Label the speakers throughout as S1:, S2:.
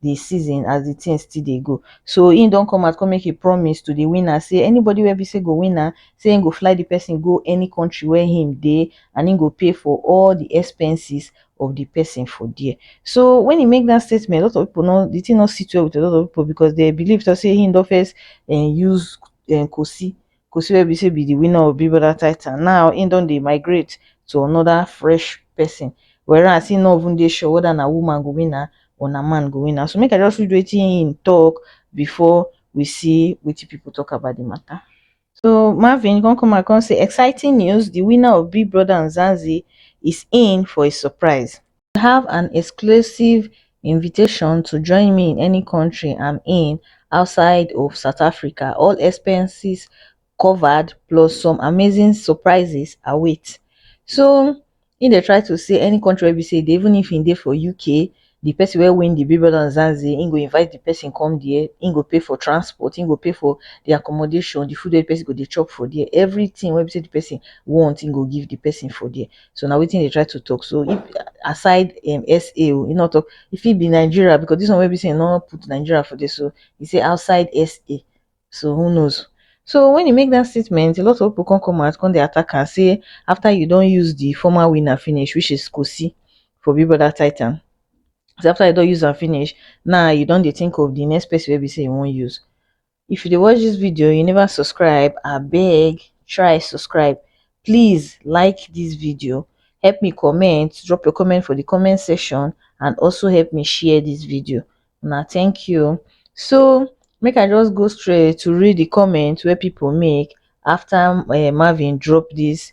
S1: the season as the thing still dey go. So him don come out come make a promise to the winner say anybody wey be say go win am, say him go fly the person go any country where him dey and him go pay for all the expenses of the person for there. So when he make that statement, a lot of people no the thing no sit well with a lot of people because they believe to say him don first um use um Kosi Kosi wey be say be the winner of Big Brother title now he don dey migrate to another fresh person whereas he no even dey sure whether na woman go win am or na man go win am so make I just read wetin he talk before we see wetin people talk about the matter. So Marvin come come out come say exciting news the winner of Big Brother Nzanzi is in for a surprise. you have an exclusive invitation to join me in any country i'm in outside of south africa all expenses covered plus some amazing surprises await so he dey try to say any country wey be say even if he dey for uk the person wey win the big brother and zanzi he go invite the person come there he go pay for transport he go pay for the accommodation the food wey the person go dey chop for there everything wey be say the person want he go give the person for there so na wetin e dey try to talk so if aside um SA oh, e no talk, e fit be Nigeria because this one wey be say e no put Nigeria for there so e say outside SA so who knows. So when e make that statement a lot of people come come out come dey attack am say after you don use the former winner finish which is Kosi for Big Brother Titan say after you don use am finish now you don dey think of the next person wey be say you wan use if you dey watch this video you never subscribe abeg try subscribe please like this video help me comment drop your comment for the comment section and also help me share this video now thank you so make i just go straight to read the comment where people make after uh, marvin drop this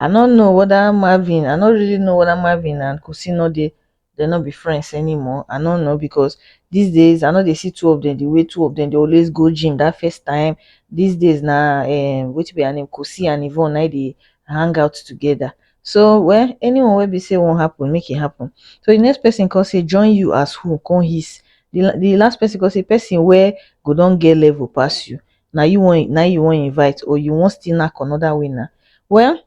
S1: i no know whether marvin i no really know whether marvin and kufsie no dey dey no be friends anymore i no know because these days i no dey see two of dem the way two of dem dey always go gym that first time these days na um wetin be her name kufsie and yvonne na im dey hang out together so well anyone wey be say wan happen make e happen so the next person come say join you as who come hiss the the last person come say person wey go don get level pass you na you wan na you wan invite or you wan still knack another winner? Well,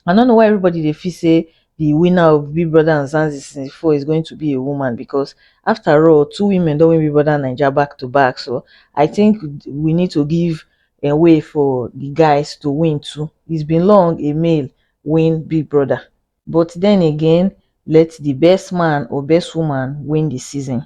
S1: I no know why everybody dey feel say the winner of Big Brother and Zanzi season four is going to be a woman because after all, two women don win Big Brother Naija back to back. So I think we need to give a way for the guys to win too. It's been long a male win Big Brother. But then again, let the best man or best woman win the season.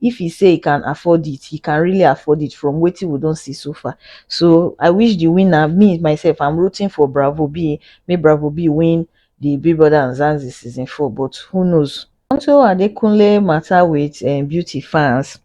S1: if he say he can afford it he can really afford it from wetin we don see so far so i wish the winner me myself i'm rooting for bravo b may bravo b win the big brother and zanzi season 4 but who knows unto adekunle matter with um, beauty fans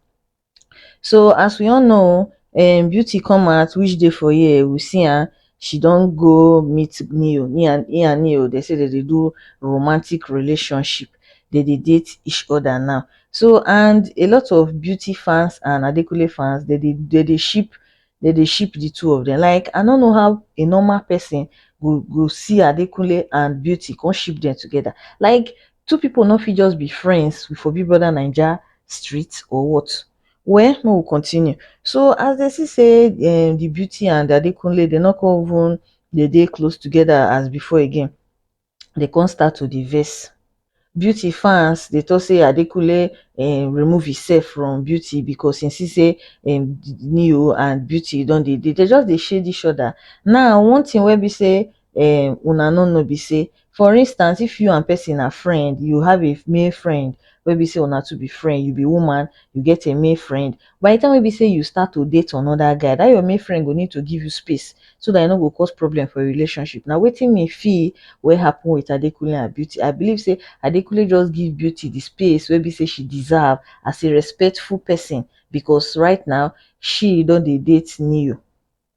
S1: so as we all know um, beauty come out which day for year we see her she don go meet neo he and he and neo dey say dey dey do romantic relationship dey dey date each other now so and a lot of beauty fans and adekunle fans dey dey dey dey ship dey dey ship the two of them like i no know how a normal person go go see adekunle and beauty come ship them together like two people no fit just be friends for big brother naija street or what Well make we continue so as dem see say um the beauty and Adekunle dem no come even dey dey close together as before again dem come start to dey vex beauty fans dey talk say Adekunle um remove himself from beauty because he see say um Neo and beauty don dey dey dem just dey shade each other now one thing wey be say um una no know be say for instance if you and person na friend you have a male friend wey be say una two be friend you be woman you get a male friend by the time wey be say you start to date another guy that your male friend go need to give you space so that e no go cause problem for your relationship na wetin me feel wey happen with adekunle and beauty i believe say adekunle just give beauty the space wey be say she deserve as a respectful person because right now she don dey date neo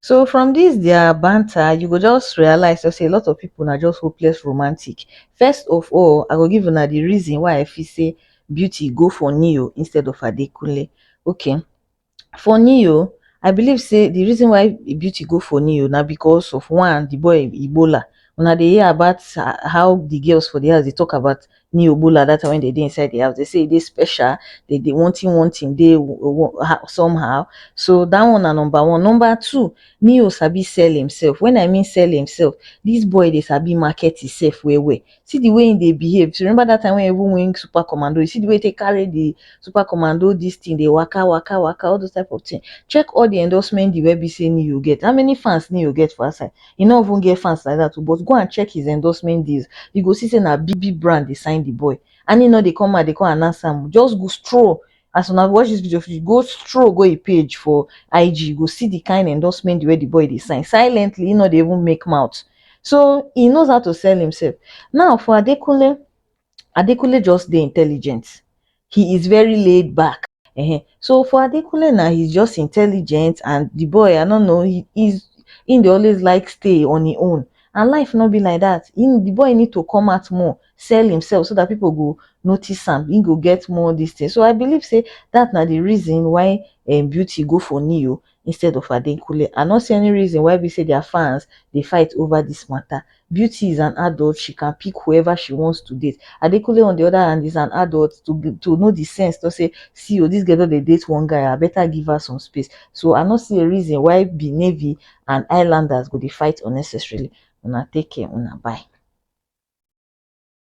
S1: So from this their banter, you go just realize say a lot of people na just hopeless romantic. First of all, I go give una the reason why I feel say Beauty go for Neo instead of Adekunle. Okay, for Neo, I believe say the reason why Beauty go for Neo na because of one, the boy Ebola. Una dey hear about how the girls for the house dey talk about ni obola that time when they dey inside the house they say e dey special they dey one thing one thing dey somehow so that one na number one number two neo sabi sell himself when i mean sell himself this boy dey sabi market himself well well see the way he dey behave if you remember that time when he even win super commando you see the way he take carry the super commando this thing dey waka waka waka all those type of thing check all the endorsement deal wey be say neo get how many fans neo get for outside he no even get fans like that o but go and check his endorsement deals you go see say na big big brand dey sign the boy and he no dey come out dey come announce am o just go stroll as una watch this video finish go stroll go him page for ig you go see the kind endorsement deal wey the boy dey sign silently he no dey even make mouth so he knows how to sell himself now for adekunle Adekunle just dey intelligent, he is very laid back um so for Adekunle na he is just intelligent and the boy I no know he is he dey always like stay on him own and life no be like that he the boy need to come out more sell himself so that people go notice am he go get more this thing so I believe say that na the reason why um Beauty go for Neo instead of Adekunle. I no see any reason why be say their fans dey fight over this matter. Beauty is an adult, she can pick whoever she wants to date. Adekunle on the other hand is an adult to be, to know the sense to say, see oh, this girl don dey date one guy, I better give her some space. So I no see a reason why be Navy and Islanders go dey fight unnecessarily. Una take care, una bye.